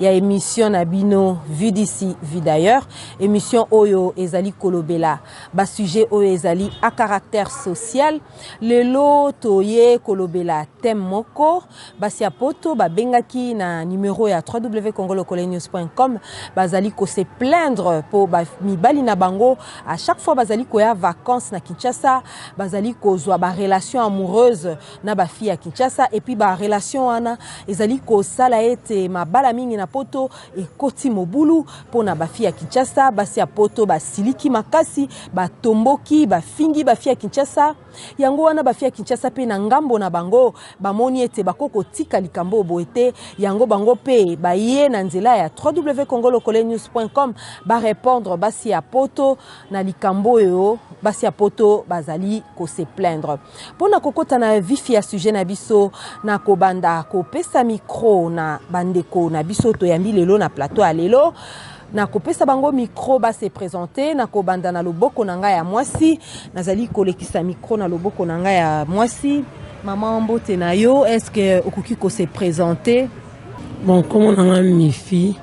ya emission na bino vue d'ici vue d'ailleurs emission oyo ezali kolobela basujet oyo ezali a caractère social lelo toye kolobela thème moko basi ya poto babengaki na numero ya www.congolocolanews.com bazali kose plaindre mpo mibali na bango à chaque fois bazali koya vacances na kinshasa bazali kozwa barelation amoureuse na ba filles ya Kinshasa et puis ba relations wana ezali kosala ete mabala mingi na poto ekoti mobulu pona ba filles ya Kinshasa basi ya poto basiliki makasi batomboki bafingi ba filles ya Kinshasa yango wana ba filles ya Kinshasa pe na ngambo na bango bamoni ete bako kotika likambo oyo boye te yango bango pe baye na nzela ya www.congolocolenews.com ba répondre basi ya poto na likambo oyo basi ya poto bazali ko se plaindre Pona kokota na vif ya sujet na biso na kobanda kopesa micro na bandeko na biso toyambi lelo na plateau ya lelo na kopesa bango micro ba se présenter na kobanda na loboko na ngai ya mwasi nazali kolekisa micro na loboko na ngai ya mwasi mama mbote na yo est ce que okoki ko se présenter bon kombo na ngai mifi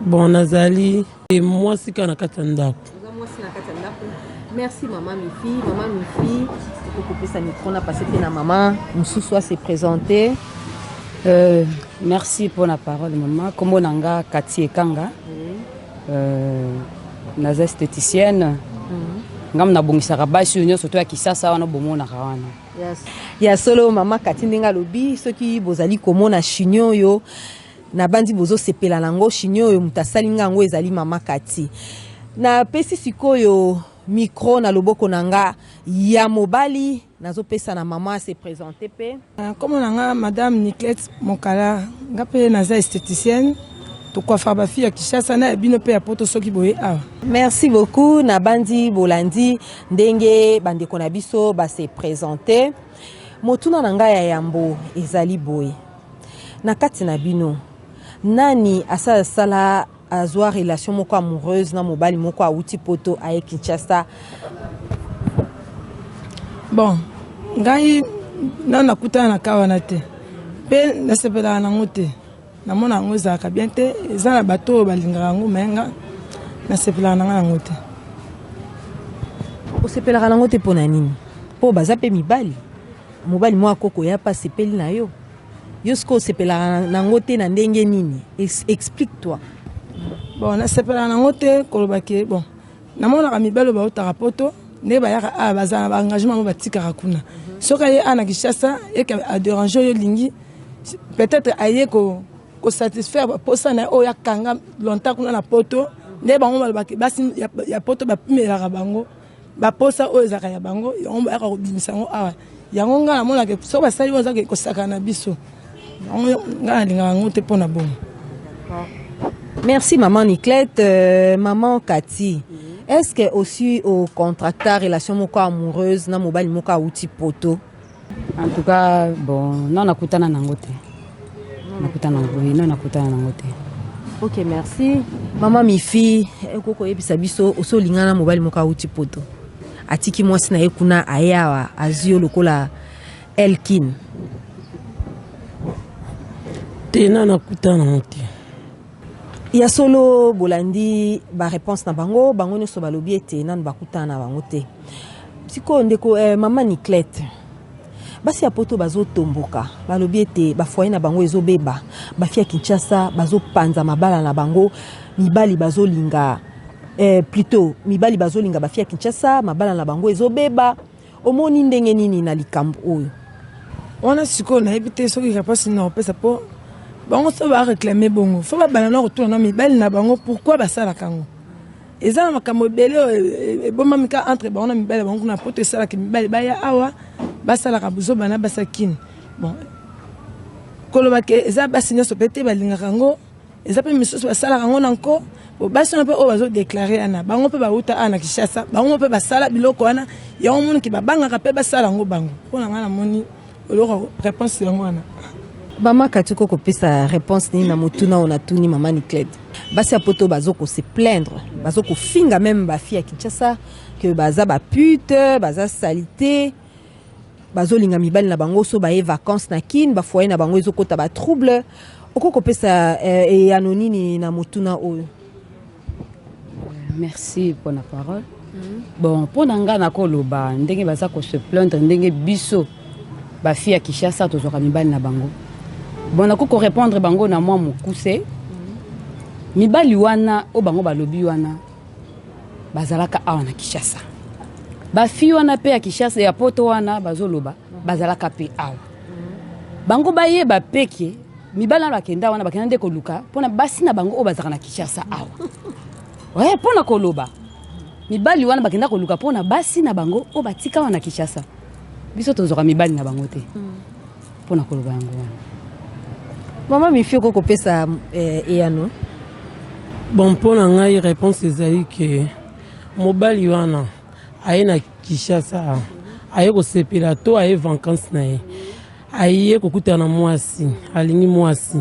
bon nazali e mwasi kaka na kati ya ndako oza mwasi na kati ya ndako merci mama mifi mama mifi okokopesa micro na pase mpe na mama mosusu ase présente euh, merci mpo na parole mama nkombo na nga kati ekanga oui. euh, naza esthéticienne mm -hmm. ngambo nabongisaka basi oyo nyonso to ya kisasa wana bomonaka wana yes. ya solo mama kati ndenge alobi soki bozali komona chignon oyo Nabanzi bozo sepela na ngo chignon oyo moto asali nga yango ezali mama Cathy. Napesi sikoyo micro na loboko na nga ya mobali nazo pesa na mama se presenter pe. Ah, Kombo na nga madame Niclette Mokala, nga pe naza esthéticienne. Tokwafaka ba fille ya Kinshasa na ya bino pe ya poto soki boye awa. Merci beaucoup nabanzi bolandi ndenge bandeko na biso ba se presenter. Motuna na nga ya yambo ezali boye. Na kati na bino nani asala sala azua relation moko amoureuse na mobali moko awuti poto aye Kinshasa? Bon, ngai na nakutana na ka wana te mpe nasepelaka nango te namona yango ezalaka bien te eza na bato oyo balingaka yango me nga nasepelaka nanga yango te osepelaka nango te mpo na nini mpo baza mpe mibali Mobali mwa koko ya pa sepeli na yo. Yo siko sepela na ngo te na ndenge nini? Explique toi. Bon na sepela na ngo te koloba ke bon na mona ka mibalo ba otaka poto ne ba yaka a baza na ba engagement mo batika ka kuna. Soka ye ana kishasa et que a déranger yo lingi peut-être aye ko ko satisfaire ba posa na oya kanga longtemps kuna na poto. Ne bango ba basi ya poto ba pimelaka bango. ba posa oyo ezaka ya bango yango bayaka kobimisa yango awa yango ngai namonaka soki basali oyo ezaka kosaka na biso yango ngai nalingaka yango te mpo na bongo merci maman niclette euh, maman kati mm -hmm. est-ce que aussi au contracta relation moko amoureuse na mobali moko awuti poto En tout cas, bon, non, nakutana nango te. Nakutana nango, oui, non, nakutana nango te. Ok, merci. Mama Mifi, ekoki koyebisa biso osi olingana na mobali moko awuti poto. Atiki mwasi na ye kuna aye awa azwi yo lokola Elkin. Te, na nakutana nango te. Ya solo bolandi ba reponse na bango bango nyonso balobi ete nanu bakutana na bango te sikoyo ndeko eh, mama niclete basi ya poto bazotomboka balobi ete bafoye na bango ezobeba bafi ya kinshasa bazopanza mabala na bango mibali bazolinga eh, plutot mibali bazolinga bafi ya kinshasa mabala na bango ezobeba Omoni ndenge nini na likambo oyo? Wana sikoyo nayebi te soki kapasi na opesa po bango so ba reclamer bongo fo babanda na kotuna na mibali na bango pourquoi basalaka yango eza na makambo ebele oyo ebombami ka entre bango na mibali bango kuna poto esalaka mibali baya awa basalaka buzoba na basakini bon koloba ke eza basi nyonso mpe te balingaka yango eza mpe misusu basalaka yango na nko basi wana mpe oyo bazodeklare yana bango mpe bauta awa na kinshasa bango mpe basala biloko wana yango moniki babangaka mpe basala yango bango mpo na ngai namoni oloko réponse yango wana mama kati ko kopesa réponse nini na motuna oyo natuni mama niclede basi ya poto bazo kose plaindre bazo kofinga meme bafi ya kinshasa ke baza bapute baza salite bazolinga mibali na bango so baye vacances na kin bafoye na bango ezokota batrouble okoki kopesa eh, eyano eh, nini na motuna oyo merci mpo na parole mm. bon mpo na ngai nakoloba ndenge baza kose plaindre ndenge biso bafi ya kinshasa tozwaka mibali na bango bon nakoki korépondre bango na mwa mokuse mm. mibali wana oyo bango balobi wana bazalaka awa na Kinshasa bafi wana mpe ya Kinshasa ya poto wana bazoloba bazalaka mpe awa bango bayeba mpe ke mibali wana bakenda wana bakenda nde koluka mpona basi na bango oyo bazalaka na Kinshasa awa oye mpo na koloba mibali wana bakenda koluka mpo na basi na bango oyo batika wana na Kinshasa biso tozwaka mibali na bango te mm. mpo na koloba yango wana mama mifi okoki kopesa eh, eyano bon mpo na ngai réponse ezali ke mobali wana aye na kinshasa aye kosepela to aye vankance na ye aye kokutana na mwasi alingi mwasi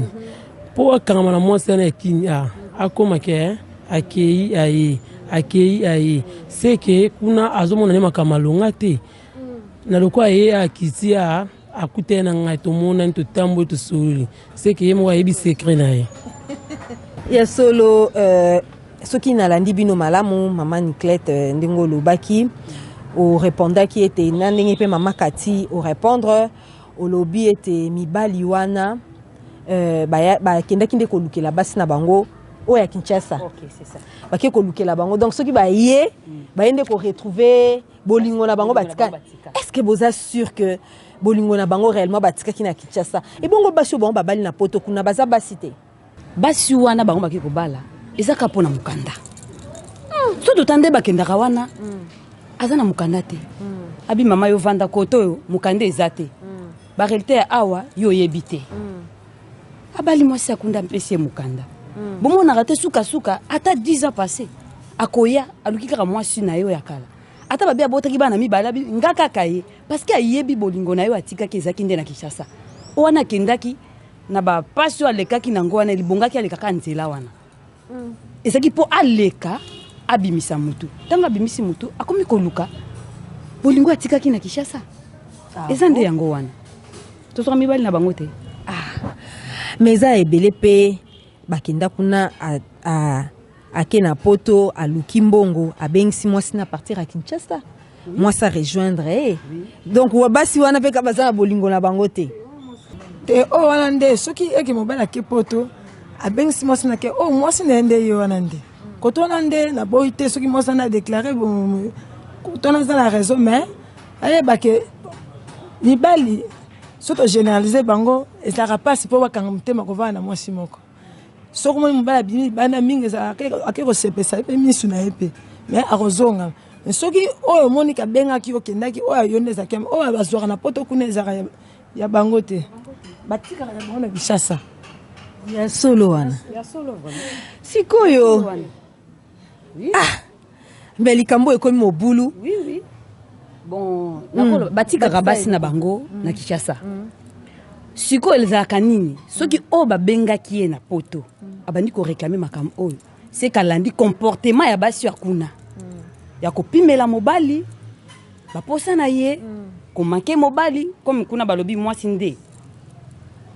mpo akangama na mwasi wana ya kini a akoma ke eh, akei aye akei aye seke kuna azomona nde makambo alonga te na lokola ye akiti a akutani na ngai tomonani totamboli tosololi seke ye moko ayebi sekre na ye ya solo euh, soki nalandi bino malamu mama niclete euh, ndenge olobaki orepondaki ete na ndenge mpe mama kati orepondre olobi ete mibali wana euh, bakendaki nde kolukela basi na bango oyo ya kinshasa okay, bakei kolukela bango donc soki baye baye nde koretrouve bolingo na bango batika est-ce que boza sûr que bolingo na bango réellement batikaki na Kinshasa ebongo basi oyo bango babali na poto kuna baza basi te basi wana bango baki kobala eza ka mpo na mokanda hmm. so tota nde bakendaka wana hmm. aza na mokanda te hmm. abi mama yo vanda koto oyo mokanda eza te barealité ya awa yo oyebi te abali mwasi akunda mpesi ye mokanda mm. bomonaka te sukasuka ata 10 ans passé akoya aluki kaka mwasi na ye oyo ya kala ata babe abotaki bana mibale abi nga kaka ye parceke ayebi bolingo na ye oyo atikaki ezalaki nde na kinshasa wana akendaki na bapasi oyo alekaki na yango wana libongaki alekaka nzela wana ezalaki mpo aleka abimisa mutu ntango abimisi mutu akomi koluka bolingo atikaki na kinshasa ah, eza nde yango wana tozwaka mibali na bango te ah. mais eza ebele mpe bakenda kuna a, a, ake na poto aluki mbongo abengisi mwasi na partir ya kinshasa mwasi arejoindre ye donc basi wana mpe ka baza na bolingo na bango te te oyo wana nde soki eke mobali ake poto abengisi mwasi na ke oyo oh, mwasi na ye nde ye wana nde koto wana nde naboyi te soki mwasi wana adeklare koto wana eza na raison mais ayeba ke mibali soki togeneralise bango ezalaka mpasi mpo bakanga motema kovanda na mwasi moko soki omoni mobali abimi libanda mingi ezalaka ake kosepesa ye mpe misu na ye mpe me akozonga soki oyo omoni kabengaki okendaki oyo ayo nde ezalaki oyo bazwaka na poto kuna ezalaka ya bango te batikalaka bango na bishasa ya solo wana sikoyo oui. ah mais likambo ekomi mobulu oui, oui. Bon, mm. batikaka basi na bango mm. na kinshasa mm. sikoyo ezalaka nini soki oyo babengaki ye na poto mm. abandi koreklame makambo oyo sekalandi comportement ya basi ya kuna mm. ya kopimela mobali baposa na ye komake mobali comme kuna balobi mwasi nde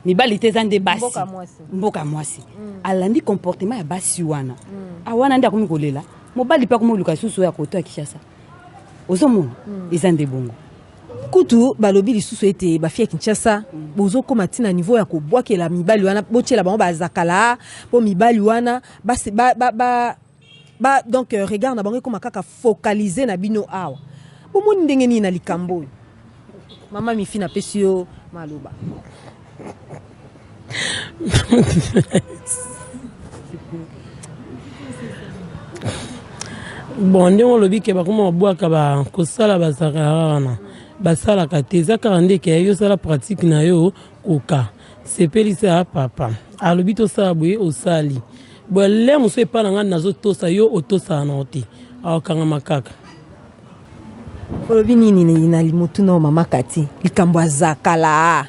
mibali te eza nde basi mboka ya mwasi mm. alandi comportement ya basi wana mm. awana ah, nde akomi kolela mobali mpe akomi koluka lisusu oyo akoto ya kinshasa ozomona mm. eza nde bongo kutu balobi lisusu ete bafi ya kinshasa mm. bozokóma ntina niveau ya kobwakela mibali wana botyela bango bazakala mpo mibali wana base, ba, ba, ba, Ba donc euh, regard na bango ekoma kaka focaliser na bino awa. Bomoni ndenge nini na likambo oyo? Mama Mifi na pesi yo maloba. bon ndenge olobi ke bakoma babwaka bakosala bazalaka wana basalaka te eza kaka ndeke yo osala pratique na yo Koka sepelisa papa alobi tosala boye osali boye le mosusu epai na ngai nazotosa yo otosaka nango te akokangama kaka olobi nini na motuna oyo mama kati likambo aza kalaa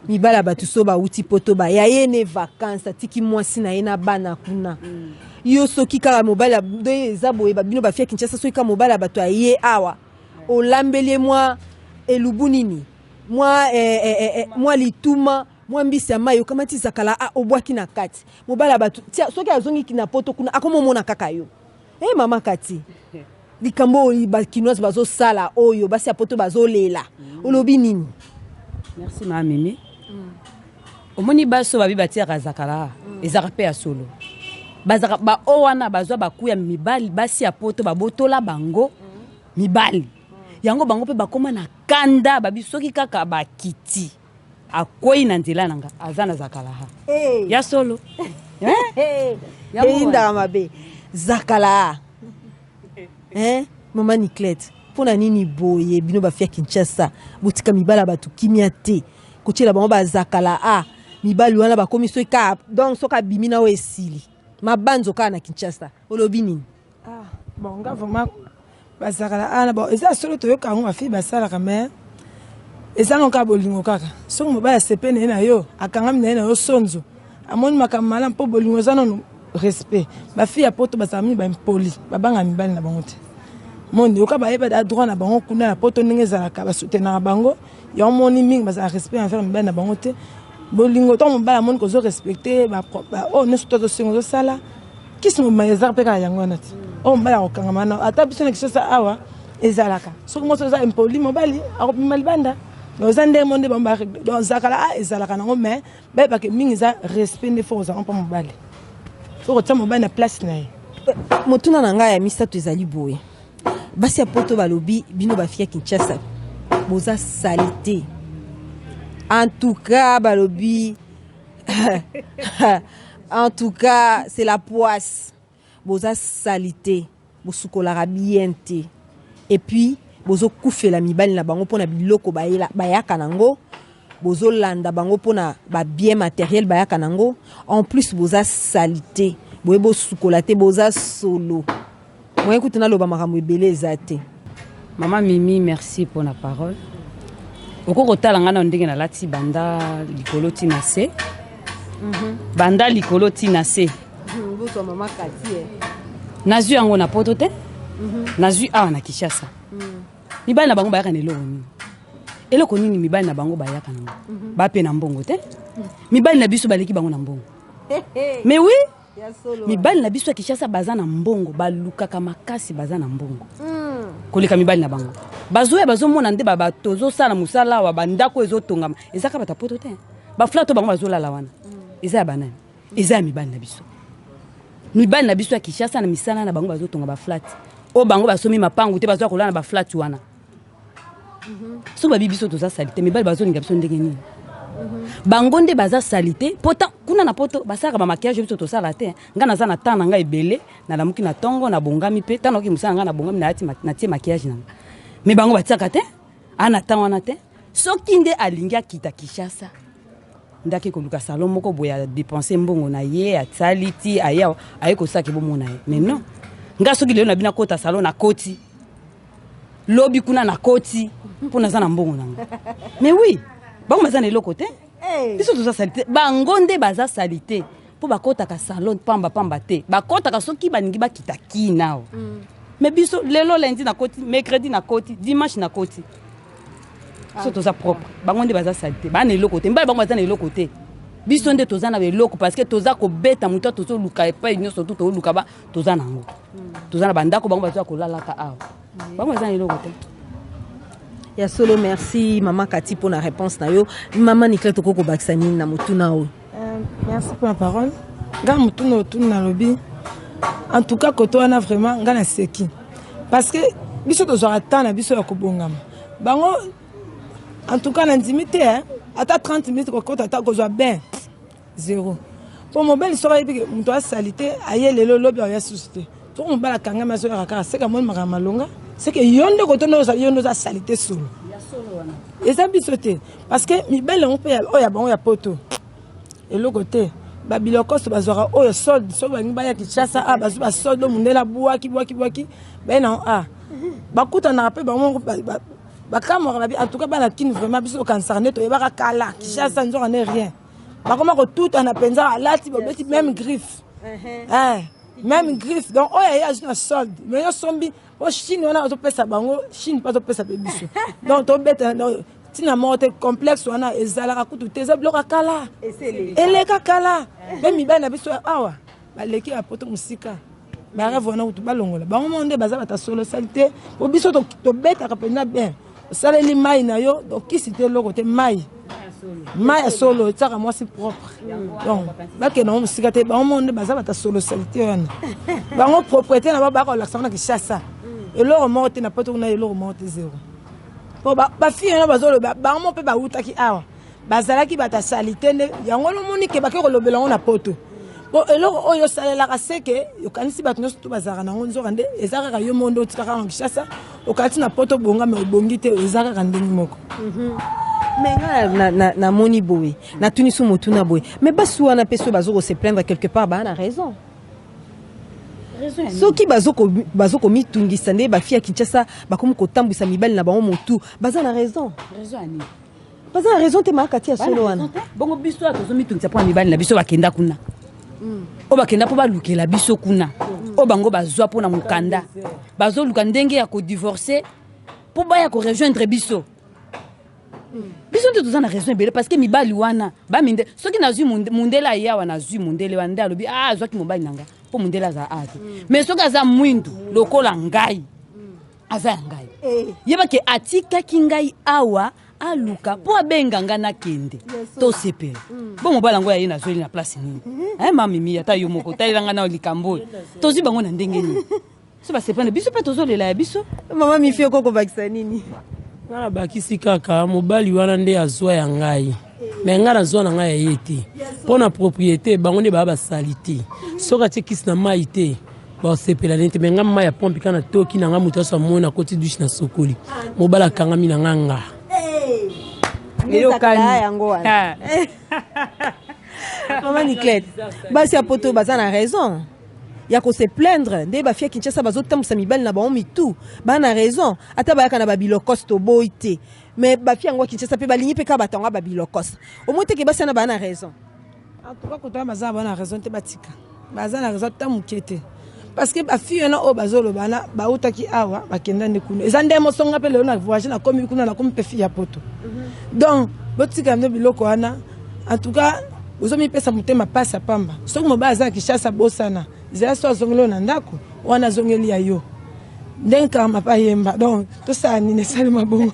mibali ya bato so bauti poto baya ye ne vakanse atiki mwasi na ye na bana kuna mm. yo soki kaka mobali eza boye babino bafia kinshasa soki kaka mobali ya bato aye awa olambeli ye mwa elubu nini mwa eh, eh, eh, eh, mwa lituma mwa mbisi ya mai okamati zakala a ah, obwaki na kati mobali ya bato tia soki azongi na poto kuna akomomona kaka yo e hey, mama kati likambo oyo bakinoise bazosala oyo basi ya poto bazolela mm. olobi nini merci ma mimi mm. omoni basi oyo babi batiaka zakala mm. ezaka mpe ya solo bazaka baoyo wana bazwa baku ya mibali basi ya poto babotola bango mm. mibali yango bango mpe bakoma na kanda babi soki kaka bakiti akwei na nzela na nga aza na zakalaha hey. ya solo eh? eyindaka mabe zakalaha eh? mama niclete mpo na nini boye bino bafia kinshasa botika mibala bato kimia te kotyela bango bazakala a ah, mibali wana bakomi soki kaka donc soki abimi na oyo esili mabanzo kaka na kinshasa olobi nini Ah, bon nga vraiment bazakala ana bon eza solo toyoka yango bafille basalaka mais eza ngo kaka bolingo kaka soki mobali asepe na ye na yo akangami na ye na yo sonzo amoni makambo malamu mpo bolingo eza nano respect bafille ya poto bazala mingi baimpoli babanga mibali na bango te moni oka bayeba da droit na bango kuna na poto ndenge ezalaka basutenaka bango yango moni mingi bazala respect envers mibali na bango te bolingo ntango mobali amoni kozo respecte oyo oh, nyonso to tosengo ozosala kisi mobima ezaka mpe kaka yango wana ti oyo mobali akokangama wana ata biso na kisosa awa ezalaka soki mosi oza impoli mobali akobima libanda mais oza ndenge mo nde bango baregle donc zakala a ah, ezalaka nango mais bayebake mingi eza respect nde fo kozanga mpo mobali fo kotia mobali na place na ye motuna na ngai ya misato ezali boye basi ya poto balobi bino bafia kinshasa boza salite en tout cas balobi en tout cas c'est la poisse boza salite bosukolaka bien te et puis bozokufela mibali na bango mpo na biloko bayaka nango bozolanda bango mpo na babien materiel bayaka nango en plus boza salite boye bosukola te boza solo Moyen kutu naloba makambo ebele eza te. Maman Mimi merci pour la parole. Oko kotala nga na ndenge nalati banda likolo ti na se. Mhm. Banda likolo ti na se. Mhm, Botwa maman Katie. Eh. Nazwi yango na poto te. Mhm. Nazwi awa na Kinshasa. Mibali na bango bayaka na eloko nini? Eloko nini mibali na bango bayaka nango? Bape na mbongo te. Mibali na biso baleki bango na mbongo. Mais oui, Mibali na biso ya Kinshasa baza na mbongo, balukaka makasi baza na mbongo. Hmm. Koleka mibali na bango. Bazoya bazomona nde ba tozosala mosala awa bandako ezotongama. Eza kaka batapoto te. Baflato bango bazolala wana. Hmm. Eza ya banani? Hmm. Eza ya mibali na biso. Mibali na biso ya Kinshasa na misala na bango bazotonga baflati. Oyo bango basomi mapangu te bazoya kolala na baflati wana. soki babi biso toza salite mibali bazolinga biso ndenge nini bango nde baza salite pota kuna na poto basalaka bamakiage biso tosala te ngai naza na temps na ngai ebele nalamuki na ntongo nabongami mpe ntango nakoki mosala ngai nabongami natie makiage na ngai me bango batiaka te ana temps wana te soki nde alingi akita kinshasa nde ake koluka salon moko boye adepense mbongo na ye asali ti aye aye kosalaki bomona ye mais non ngai soki lelo na bino akota salon na koti lobi kuna na koti mpo naza na mbongo nango mais oui bango baza na eloko te eh. biso toza salite bango nde baza salite mpo bakɔtaka salon pamba pamba te bakɔtaka soki balingi bakita ki nao mm. mais biso lelo lundi na koti mercredi na koti dimanche na koti ah. so toza propre bango nde baza salite baa na eloko te mbala bango baza na eloko te biso nde toza na eloko parce que toza kobeta moto tozoluka epai nyonso tu toluka toza na yango toza na bandako bango baza kolalaka awa bango baza na eloko te ya solo merci mama kati mpo na réponse na yo mama nicla tokoki kobakisa nini na motuna oyo euh, merci mpo na parole ngai motuna otuni nalobi en tout cas koto wana vraiment ngai naseki parce que biso tozwaka temps na biso ya kobongama bango en tout cas nandimi te ata 30 minutes kokota ata kozwa bain zero po mobali soki ayebi ke moto asalite aye lelo lobi aoya susu te soki mobali akangami azoyaka kaka seke amoni makambo malonga seke yo nde kotonda ozali yo nde oza salite solo eza biso te parce que mibali yango mpe oyo ya bango ya poto eloko te babilokoso bazwaka oyo solde soki balingi baya kinshasa a ah, bazwi basolde oyo mondele abwaki bwaki bwaki baye nango a ah. bakutanaka mpe bango moko bakamwaka babi en tout cas bana kini vraiment biso okanisaka nde toyebaka kala kinshasa nzoka nde rien bakoma kotutana mpenza alati babeti meme griffe eh, meme griffe donc oyo aye azwi na solde me yo sombi o chine wana azopesa bango chine mpe azopesa mpe biso donc tobetana donc ntina moko te complexe wana ezalaka kutu te eza biloko ya kala eleka kala mpe mibali na biso awa baleki ya poto mosika bareve wana kutu balongola bango moko nde baza bata solo salite po biso tobetaka mpenza bien osaleli mai na yo okisi te eloko te mai mai ya solo etiaka mwasi propre donc bakenda ngo mosika te bango moko nde baza bata solo salite wana bango propriété na bango bakolakisa ngo na kishasa mm. eloko moko te na poto kuna eloko moko te zero po bafille wana bazoloba bango moko mpe bawutaki awa bazalaki bato ya salite nde yango wana omoni ke bake kolobela yango na poto mpo eloko oyo osalelaka seke okanisi bato nyonso to bazalaka na yango nzoka nde eza kaka yo moko nde otika kaka na kinshasa okati na poto bonga me obongi te eza kaka ndenge moko mhm. me nga namoni boye natuni so motuna boye me basi wana mpe soki bazo kose plaindre quelque part baa na raison soki bazo komitungisa nde bafi ya kinshasa bakomi kotambwisa mibali na bango motu baza na raison baza na raison te makati ya solo wana bongo biso ya tozomitungisa mpo na mibali na biso bakenda kuna hmm. oyo bakenda mpo balukela biso kuna hmm. oyo bango bazwa mpo na mokanda bazoluka ndenge ya kodivorce mpo baya korejoindre biso hmm. biso nde toza na raison ebele parce que mibali wana baminde soki nazwi mundele aye awa nazwi mundele wana nde alobi a ah, azwaki mobali na nga mpo mundele aza awa te mais soki aza mwindu lokola ngai aza ya ngai eh. yeba ke atikaki ngai awa aluka mpo abenga ngai nakende tosepela mm. bo mobali yango ya ye nazweli na place nini mm-hmm. eh, mamimi ata yo moko talela ngai na likambo oyo tozwi bango na ndenge nini so basepana biso mpe tozolela ya biso mama mifi okokobakisa nini ngai nabakisi kaka mobali wana nde azwa ya ngai me ngai nazwa na ngai ya ye te mpo na propriété bango nde baya basali te soki atie kisi na mai te basepela nde te me ngai mai ya pompe kaka natoki na ngai moto nyonso amoni nakoti dushe na sokoli mobala akangami na ngai nga eyokani yango wana ah. mama niclete basi ya poto baza na raison ya kose plaindre nde bafia kinshasa bazotambusa mibali na bango mitu baa na raison ata bayaka na babilokos toboyi te mais ba fille yango Kinshasa pe balingi pe ka batanga ba bilokos au moins teke basi na bana raison en tout cas kotanga baza bana raison te batika baza na raison ta muke te parce que ba fille wana oyo bazoloba na bautaki awa bakenda nde kuna eza nde mosonga pe lelo na voyage na komi kuna na komi pe fille ya poto mhm. donc botika nde biloko wana en tout cas ozomipesa motema pasi ya pamba soki mobali aza na kishasa bosana zela so azongeli oyo na ndako wana azongeli ya yo ndenge karma pa yemba donc tosala nini esali mabongo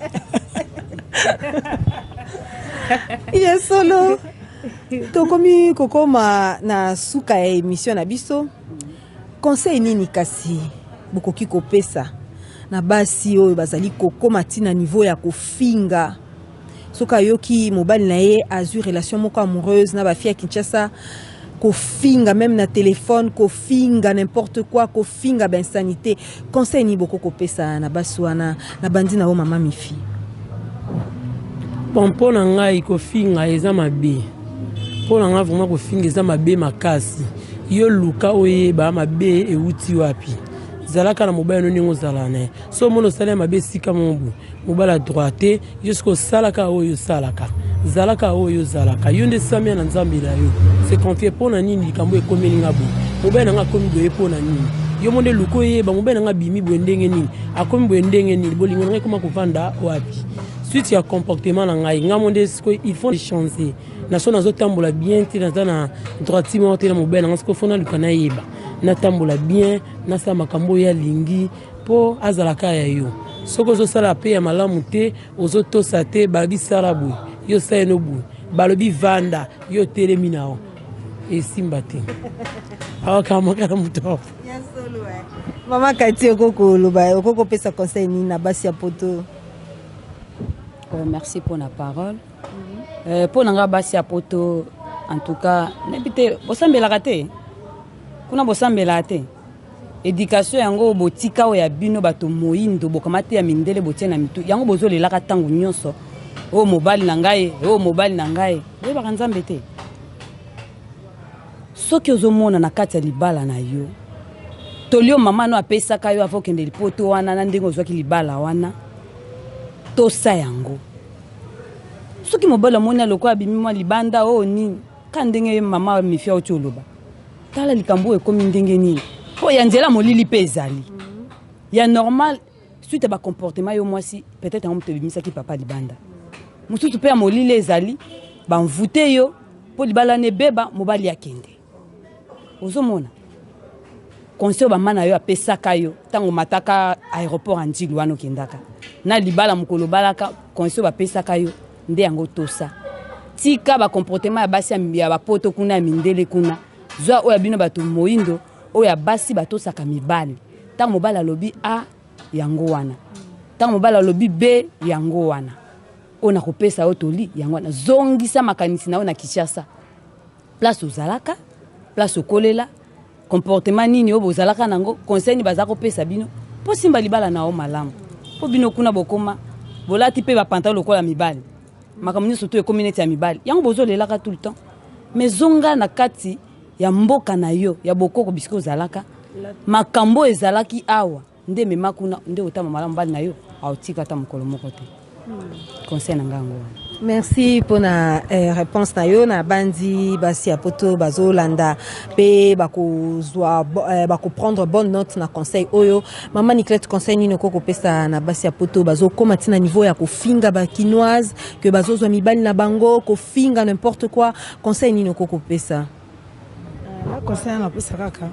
ya solo tokomi kokoma na suka ya emission na biso conseil nini kasi bokoki kopesa na basi oyo bazali kokoma ntina niveau ya kofinga soki ayoki mobali na ye azwi relation moko amoureuse na bafille ya kinshasa kofinga meme na telefone kofinga n'importe quoi kofinga bainsanité conseil nini boko kopesa na basi wana na bandi na yo mama mifi bon mpo na ngai kofinga eza mabe mpo na ngai vraimen kofinga eza mabe makasi yo luka oyeba mabe euti wapi zalaka na mobali no ndenge ozala na ye so omona osali ya mabe esika mobu Obala droit te jusqu'à osalaka oyo osalaka zalaka oyo ozalaka yo nde samia na nzambe na yo se confie mpo na nini likambo ekomeli nga boye mobali na nga akomi boye mpo na nini yo mo nde luka oyeba mobali na nga abimi boye ndenge nini akomi boye ndenge nini bolingo na ngai ekoma kovanda wapi suite ya comportement na ngai ngai mo nde sikoyo il faut changer na so nazotambola bien te naza na droiti moko te na mobali na ngai sikoyo fo naluka nayeba natambola bien nasala makambo oyo alingi Po azala ka ya yo. Soki ozo sala pe ya malamu te, ozo tosa te, balobi sala boye, yo sali no boye. Balobi vanda, yo otelemi na yo. Esimba te. Awa kamaka na moto awa. Ya solo eh. Mama Kati oko koloba, oko kopesa conseil nini na basi ya poto? Oh, merci pour la parole. Mm -hmm. euh, pour nanga basi ya poto en tout cas nayebi te bosambelaka te kuna bosambelaka te Education yango oyo botika oyo ya bino bato moindo bokamate ya mindele botie na mitu yango bozolelaka ntango nyonso oyo mobali na ngai oyo mobali na ngai boyebaka nzambe te soki ozomona na kati ya libala na yo tolio mama no apesaka yo avo okende lipoto wana na ndenge ozwaki libala wana tosa yango soki mobali amoni alokola abimi mwa libanda oyo oh, nini ka ndenge mama mifia oti oloba tala likambo oyo ekomi ndenge nini mpo ya nzela molili mpe ezali ya normal suite ya bacomportement yo mwasi peut-être yango moto ebimisaki papa libanda mosusu mpe ya molili ezali banvute yo mpo libala na ebeba mobali akende ozomona conseil bama na yo apesaka yo ntango mataka aéroport ya ntilu wana okendaka na libala mokolo obalaka conseil bapesaka yo nde yango tosa tika ba comportement ya basi ya ba poto kuna ya mindele kuna zwa oyo ya bino bato moindo oyo ya basi batosaka mibali ntango mobali alobi a yango wana ntango mobali alobi be yango wana oyo nakopesa yo toli yango wana zongisa makanisi na yo na kinshasa place ozalaka place okolela comportement nini oyo bozalaka nango conseil nini baza kopesa bino mpo simba libala na yo malamu mpo bino kuna bokoma bolati mpe bapantalo lokola mibali makambo nyonso to ekomi neti ya mibali yango bozolelaka tout le temps mais zonga na kati ya mboka na yo ya bokoko bisika ozalaka makambo ezalaki awa nde mema kuna nde otama malamu bali na yo aotika ata mokolo moko te conseil na ngai yango wana merci mpo na eh, réponse na yo nabanzi basi ya poto bazolanda mpe bakozwa eh, bakoprendre bonne note na conseil oyo mama niclete conseil nini okoki kopesa na basi ya poto bazokóma ti na niveau ya kofinga bakinoise ke bazozwa mibali na bango kofinga n'importe quoi conseil nini okoki kopesa Nga conseil nanga pesa kaka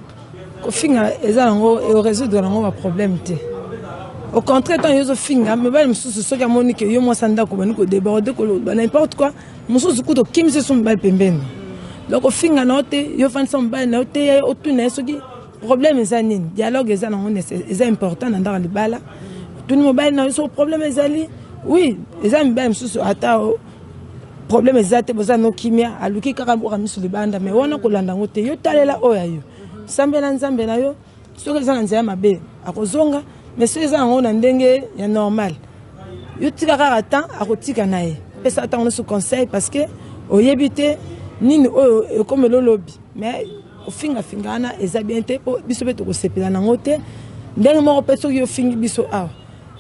kofinga eza nango e résoudre nango ba problème te au contraire ntango yo ozofinga mibali mosusu soki amoni ke yo mwasi ya ndako obandi kodeborde koloba n'importe quoi mosusu kutu okimisi esu mobali pembeni donc ofinga na yo te yo ofandisa mobali na yo te ya otuna ye soki problème eza nini dialogue eza nango eza important na ndako ya libala otuni mobali na yo soki problème ezali oui eza mibali mosusu ata problème eza te boza no kimia aluki kaka boka misu libanda mais wana kolanda yango te yo talela oyo ya yo sambela nzambe na yo soki eza na nzela mabe akozonga mais soki eza yango na ndenge ya normal yo tika kaka temps akotika na ye pesa ntango nyonso conseil parce que oyebi te nini oyo ekomela olobi mais kofingafinga wana eza bien te mpo biso mpe tokosepela nango te ndenge moko mpe soki ofingi biso awa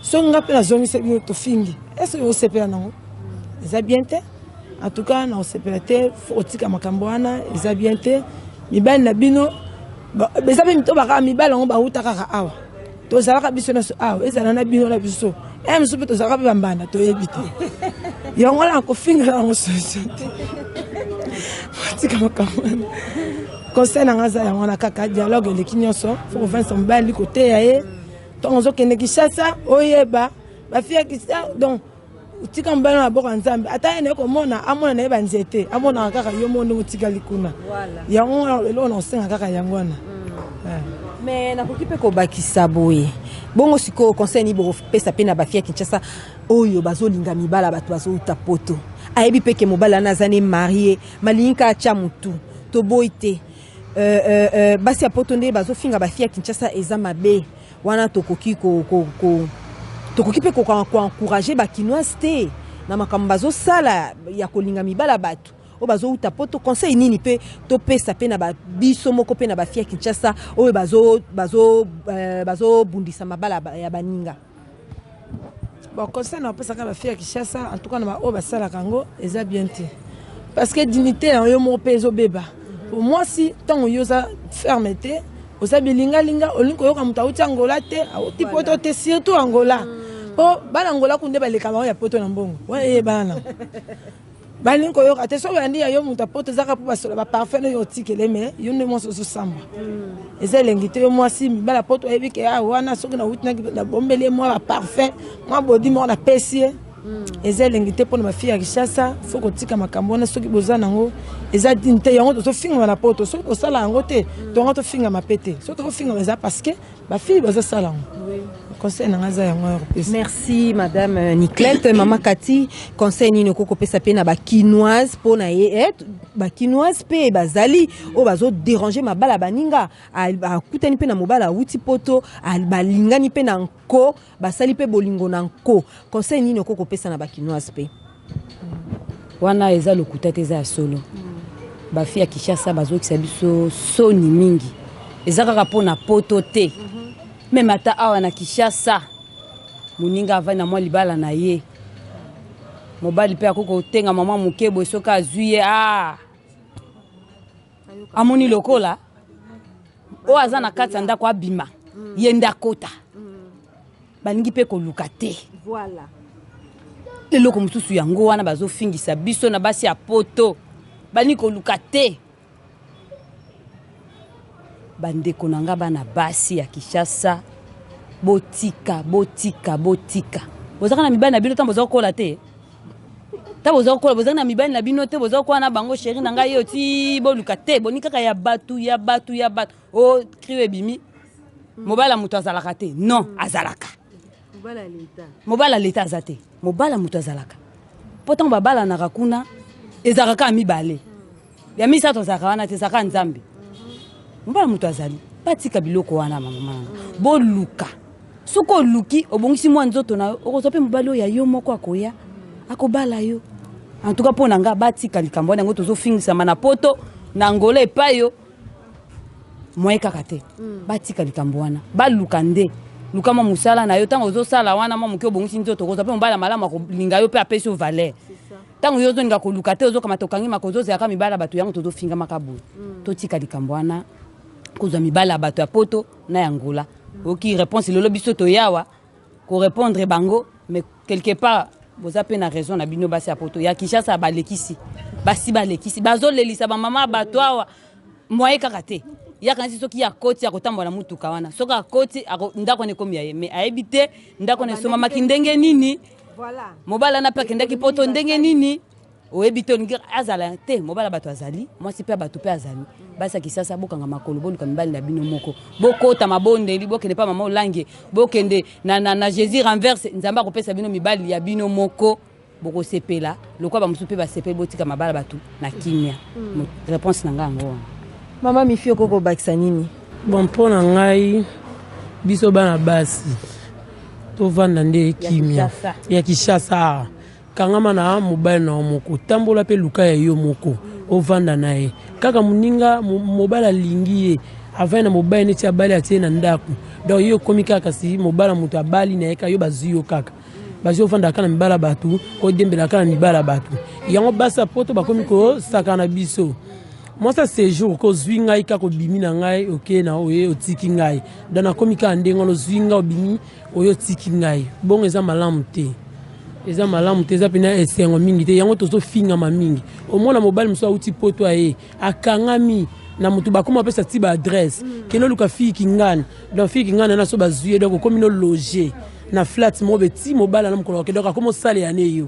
soki nga mpe nazongisa bino tofingi ese osepela nango eza bien te en tout cas naosepela te fo otika makambo wana eza bien te mibali na bino eza mpe mito bakaka mibali yango bauta kaka awa tozalaka biso nyonso awa ezala na bino na biso e eh, mosusu mpe tozalaka mpe bambanda toyebi te yango na kofingela yango solution te otika makambo wana conseil na ngai aza yango wana kaka dialogue eleki nyonso fo kovandisa mobali koteya ye ntango ozokende kishasa oyeba bafi ya kisa donc tika mobali na maboko ya nzambe ata ye naye komona amona na ye banzete amonaka kaka yo moko ndenge otikali kuna yango wana eloko na kosenga kaka yango wana mm. eh. me nakoki mpe kobakisa boye bongo sikoyo conseil nini bokopesa mpe na bafi ya kinshasa oyo bazolinga mibala bato bazouta poto ayebi mpe ke mobali wana aza ne marie malingi kaka tya motu toboyi te Euh, euh, euh, basi ya poto nde bazofinga bafi ya kinshasa eza mabe wana tokoki ko, ko, ko, tokoki mpe koencourage bakinoise te na makambo bazosala ya kolinga mibala bato oyo bazowuta poto conseil nini mpe topesa mpe na biso moko mpe na bafi ya kinshasa oyo bazobundisa bazo, bazo mabala ya baninga Bon conseil na opesaka ba fille ya Kinshasa en tout cas na ba oyo basalaka yango eza bien te parce que dignité ya yo moko mpe ezobeba po mwasi ntango yo oza ferme te oza bilingalinga olingi koyoka moto awuti angola te awuti poto te surtout angola mpo bana angola kunde baleka bango ya poto na mbongo wana eyebana nango balingi koyoka te soki oyandi ya yo moto ya poto ezaka mpo basola baparfum oyo otikele me yo nde mwasi ozosamba hmm. eza elengi te yo mwasi mibala poto oyebi ke awa wana soki nauti nabombeli ye mwa baparfum mwa bodi moko napesi ye hmm. eza elengi te mpona bafi ya kishasa fo kotika makambo wana soki boza nango eza dine te yango tozofingama na poto soki kosala yango te hmm. tonga tofingama mpe te soki tokofingama eza parceke Ba fille baza sala ngo. Conseil na ngaza yango ya kopesa. Merci madame euh, Niclette, maman Cathy, conseil nini okoki kopesa pe na ba kinoise po na ye eh, ba kinoise pe bazali o bazo déranger mabala baninga akutani pe na mobala awuti poto balingani pe na nko basali mpe bolingo na nko conseil nini okoki kopesa na bakinoise mpe wana eza lokuta te eza ya solo bafi ya kinshasa bazokisa biso soni mingi eza kaka mpo na poto te meme ata awa na kinshasa moninga avai na mwa libala na ye mobali mpe akoki kotengama mwa moke boye soki azwi ye a ah! amoni lokola oyo aza na kati ya ndako abima mm. ye nde akota mm. balingi mpe koluka te voilà. eloko mosusu yango wana bazofingisa biso na basi ya poto balingi koluka te bandeko na nga bana basi ya kinshasa botika botika botika bozaka na mibali na bino ntango boza kokola te ta boza kokola bozali na mibali na bino te boza kokola na bango sheri na ngai yo ti boluka te boni kaka ya bato ya bato ya bato o oh, krio ebimi mobali ya moto azalaka te non azalaka mobali ya leta aza te mobali ya moto azalaka mpo ntango babalanaka kuna ezalaka kaka mibale ya misato azalaka wana te ezalaka nzambe mobala moto azali batika biloko wana mamama boluka soki oluki obongisi mwa nzoto na yo okozwa mpe mobali oyo ya yo moko akoya akobala yo en tout cas mpo na ngai batika likambo wana yango tozofingisama na poto na angola epai yo moye kaka te mm. batika likambo wana baluka nde luka mwa mosala na yo ntango ozosala wana mwa moke obongisi nzoto okozwa mpe mobali ya malamu akolinga yo mpe apesi yo valeur Tango yo ozolinga koluka te ozokamata okangi maka ozozalaka mibala bato yango tozofingamaka boye mm. totika likambo wana kozwa mibala ya bato ya poto na ya ngola mm. oki réponse lelo biso toyawa korépondre bango mais quelque part boza mpe na raison na bino basi ya poto ya kinshasa balekisi basi balekisi bazolelisa bamama ya bato awa mwaye kaka te yakanisi soki ye akoti akotambola na motuka wana soki akoti ndako wana ekomi ya ye me ayebi te ndako wana esomamaki ndenge nini Voilà. Mobali wana mpe akendaki poto ndenge nini oyebi te olingi azala te mobala bato azali mwasi mpe bato mpe azali basi ya kisasa bokanga makolo boluka mibali na bino moko bokota mabondeli bokende mpa mama olange bokende na, na, na jésus renverse nzambe akopesa bino mibali ya bino moko bokosepela Lokola bamosusu mpe basepeli botika mabala bato na kimia. Mm. Reponse na ngai yango wana. Mama Mifi okoki kobakisa nini? Bon, mpo na ngai biso bana basi tovanda nde kimia ya Kinshasa. Kangama na mobali na yo moko, tambola mpe luka ya yo moko, ovanda na ye kaka moninga mobali alingi ye avai na mobali neti abali atie na ndako donc yo okomi kaka kasi mobala moto abali na ye kaka yo bazwi yo kaka bazovanda kaka na mibala bato kodiembela kaka na mibala bato yango basi ya poto bakomi kosaka na biso mwasi ya sejour ko ozwi ngai kaka obimi na ngai oke na oye otiki ngai don nakomi kaka ndenge wana ozwi ngai obimi oye otiki ngai bongo eza malamu te eza malamu te eza mpena esengo mingi te yango tozofingama mingi omona mobali mosusu auti poto aye akangami na moto bakoma bapesa ti baadresse kende oluka fille kingana donc fille kingana na so bazwi ye donc okomi no loge na flat moko be ti mobala na mokolo wake donc akoma osalela ne yo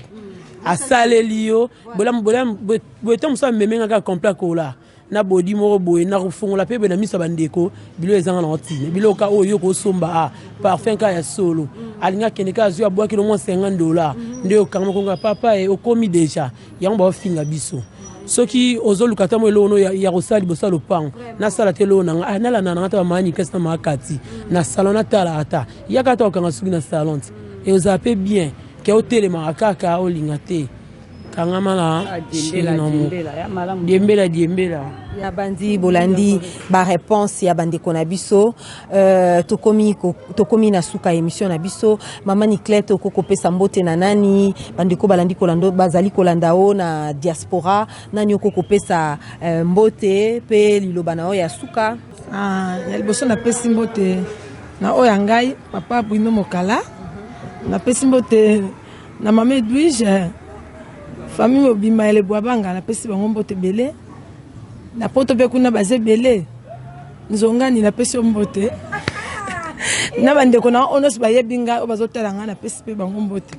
asaleli yo bolamu bolamu boye ntango mosusu ameme nga kaka complet akola na bodi moko boye nakofongola mpe boye na miso ya bandeko bilo ezanga nango ntina biloka oyo yo kosomba a ah, parfum kaka ya solo alingi akende kaka azwi abwaki no mwa 50 dola nde okanga mokonga papa e okomi deja yango baofinga biso soki ozoluka ata mwa eloko no ya kosala liboso ya lopango nasala te eloko nanga ah, nalanda nanga ata bamani kesi na makati na salon natala ata yaka ata okanga soki na salon te eozala mpe bien ke otelemaka kaka olinga te kangama na ah, diembela diembela ya bandi bolandi bareponse ya bandeko na biso Euh, tokomi tokomi na suka emission na biso mama niclete okoki kopesa mbote na nani bandeko balandi kolanda bazali kolanda o na diaspora nani okoki kopesa euh, mbote mpe liloba na yo ya suka ah, ya liboso napesi mbote na oyo ya ngai papa bruno mokala napesi mbote na mama edwige famille mobima ya lebwabanga napesi bango mbote ebele na poto mpe kuna baza ebele nzongani napesi yo mbote na bandeko na oyo nyonso bayebi ngai oyo bazotala ngai napesi mpe bango mbote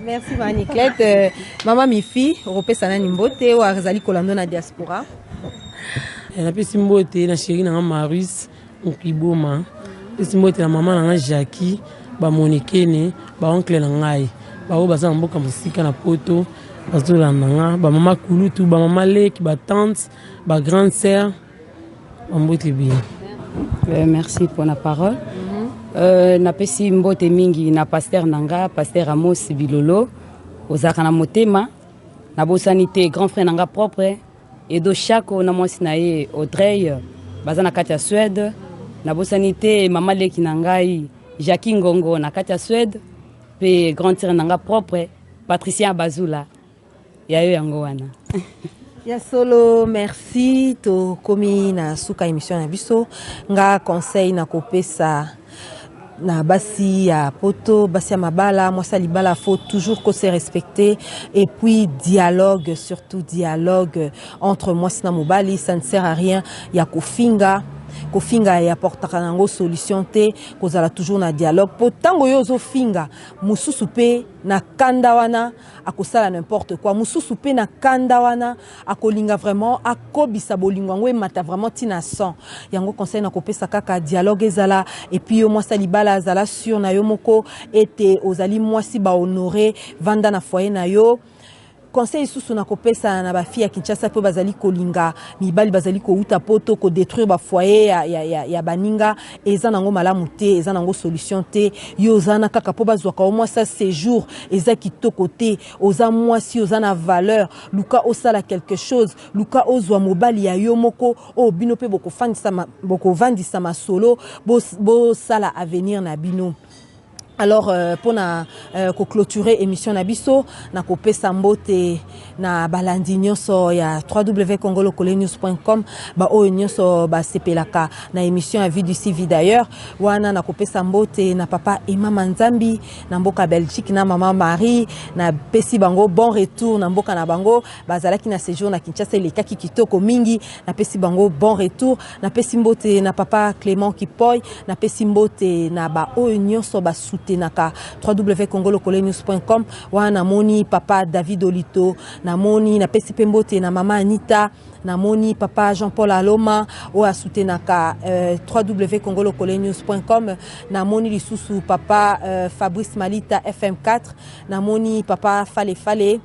merci maniclete euh, mama mifi okopesa nani mbote oyo azali kolando na diaspora eh, napesi mbote na sheri na ngai maris nkiboma pesi mbote na mama na ngai jaki bamonekene baonkle na ngai baoyo baza na mboka mosika na poto bazolanda nga bamama kulutu bamama leki batante bagrande sœur Mbote bien. Euh, merci pour la parole. Euh, napesi mbote mingi na pasteur na nga pasteur amos bilolo ozalaka na motema nabosani te grand frère na nga propre edo shako na mwasi na ye audrey baza na kati ya suède nabosani te mama leki na ngai jacqui ngongo na kati ya suède mpe grand tire na nga propre patricien abazula Ya yo yango wana. Ya solo merci tokomi na suka emission na biso nga conseil na kopesa na basi ya poto basi ya mabala mwasi ya libala faut toujours ko se respecter et puis dialogue surtout dialogue entre mwasi na mobali ça ne sert à rien ya kofinga kofinga ya portaka nango solution te kozala toujours na dialogue po ntango yo ozofinga mosusu pe na kanda wana akosala n'importe quoi mususu pe na kanda wana akolinga vraiment akobisa bolingo yango emata vraiment tina 100 yango conseil na kopesa kaka dialogue ezala et puis yo mwasi libala azala sur na yo moko ete ozali mwasi ba honore vanda na foyer na yo conseil isusu na kopesa na bafi ya kinshasa mpe bazali kolinga mibali bazali kouta poto kodétruire bafoye ya, ya, ya, ya baninga eza nango malamu te eza nango solution te yo oza na kaka mpo bazwaka yo mwasi ya séjour eza kitoko te oza mwasi oza na valeur luka osala quelque chose luka ozwa mobali ya yo moko oyo bino mpe bokofandisa ma- bokovandisa masolo bos- bosala avenir na bino Alors euh, pona euh, ko clôturer émission na biso na kopesa mbote na balandi nyonso ya www.congolokolenews.com ba oyo nyonso basepelaka na émission ya vie du civi d'ailleurs wana na kopesa mbote na papa Emma Manzambi na mboka Belgique na maman Marie na pesi bango bon retour na mboka na bango bazalaki na séjour na Kinshasa elekaki kitoko mingi na pesi bango bon retour Napesi mbote na papa Clement Kipoy, napesi mbote na ba oyo nyonso ba soutenaka www.congolokolenews.com wana namoni papa David Olito, namoni napesi pe mbote na mama Anita, namoni papa Jean-Paul Aloma oyo asutenaka euh, www.congolokolenews.com, namoni lisusu papa euh, Fabrice Malita FM4, namoni papa Fale Fale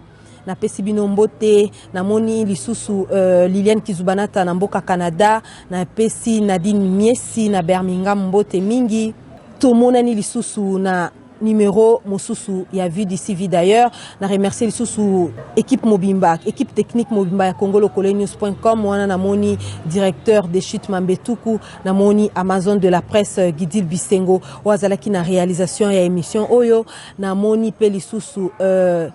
Napesi bino mbote, namoni lisusu euh, Liliane Kizubanata na mboka Canada, napesi Nadine Miesi na Birmingham mbote mingi. Tomonani lisusu na numéro mosusu ya vie d'ici vie d'ailleurs na remercie lisusu équipe mobimba équipe technique mobimba ya congolocolenews.com wana namoni directeur de chute mambetuku namoni amazon de la presse euh, gidil bisengo oyo azalaki na réalisation ya émission oyo namoni mpe lisusu euh,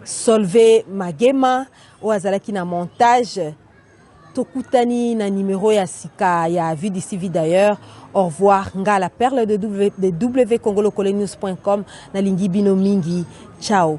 Solve Magema oyo azalaki na montage tokutani na numero ya sika ya vie d'ici vie d'ailleurs au revoir nga la perle de, w, de wcongolocolenews.com nalingi bino mingi ciao